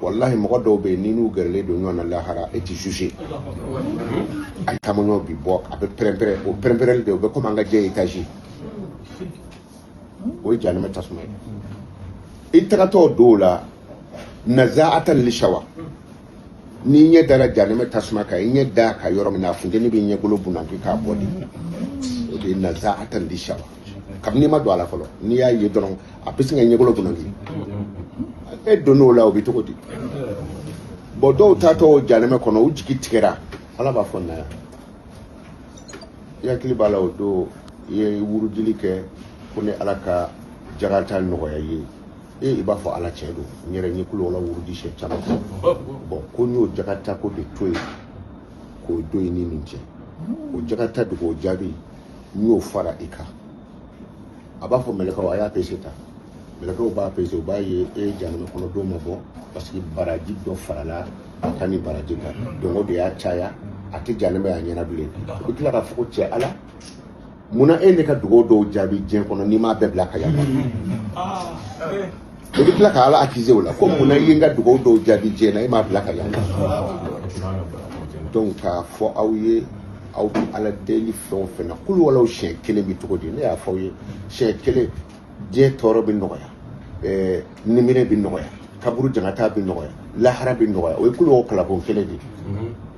walahi mɔgɔ dɔw bɛ yen ni n'u gɛrɛlen don ɲɔgɔn na lahara e tɛ juge a taamaɲɔ bi bɔ a bɛ pɛrɛnpɛrɛn o pɛrɛnpɛrɛnli de o bɛ komi an ka jɛ etazi o ye janɛmɛ tasuma ye i tagatɔ don o la nazaatan lisawa n'i ɲɛ dara janɛmɛ tasuma kan i ɲɛ d'a kan yɔrɔ min na a funteni b'i ɲɛkolo bunaki k'a bɔ de o de ye nazaatan lisawa kabini i ma don a la fɔlɔ n'i y'a ye dɔrɔn a bɛ se k'i ɲɛkolo bunaki n'e donn'o la o bɛ cogo di bɔn dɔw taatɔ o janɛmɛ kɔnɔ u jigi tigɛra ala b'a fɔ na yan i hakili b'a la o don i ye wurudili kɛ ko ne ala ka jagata nɔgɔya i ye i b'a fɔ ala tiɲɛ don n yɛrɛ ye kulu wala wurudi siɲɛ caman bɔn ko n y'o jagata ko de to yen k'o don i ni nin cɛ o jagata dugaw jaabi n y'o fara i kan a b'a fɔ mɛlɛkaw a y'a pese ta mɛlɛkaw b'a pese u b'a ye e janɛmɛ kɔnɔ don ma bɔ parce que baraji dɔ farala a ka ni baraji kan donc o de y'a caya a tɛ janɛmɛ y'a ɲɛ na bilen u bɛ tila k'a fɔ ko cɛ ala munna e ye ne ka dugaw dɔw jaabi diɲɛ kɔnɔ n'i m'a bɛɛ bila ka yafa i bɛ tila ka ala akize o la ko munna i ye n ka dugaw dɔw jaabi diɲɛ na e m'a bila ka yafa donc k'a fɔ aw ye aw bɛ ala deli fɛn o fɛn na kulu walaw siɲɛ kelen bɛ cogo di ne y'a fɔ aw ye siɲɛ kelen diɲɛ tɔɔrɔ bɛ nɔgɔya ɛɛ niminɛ bɛ nɔgɔya kaburu jangata bɛ nɔgɔya lahara bɛ nɔgɔya o ye kulu walaw kalanko kelen de ye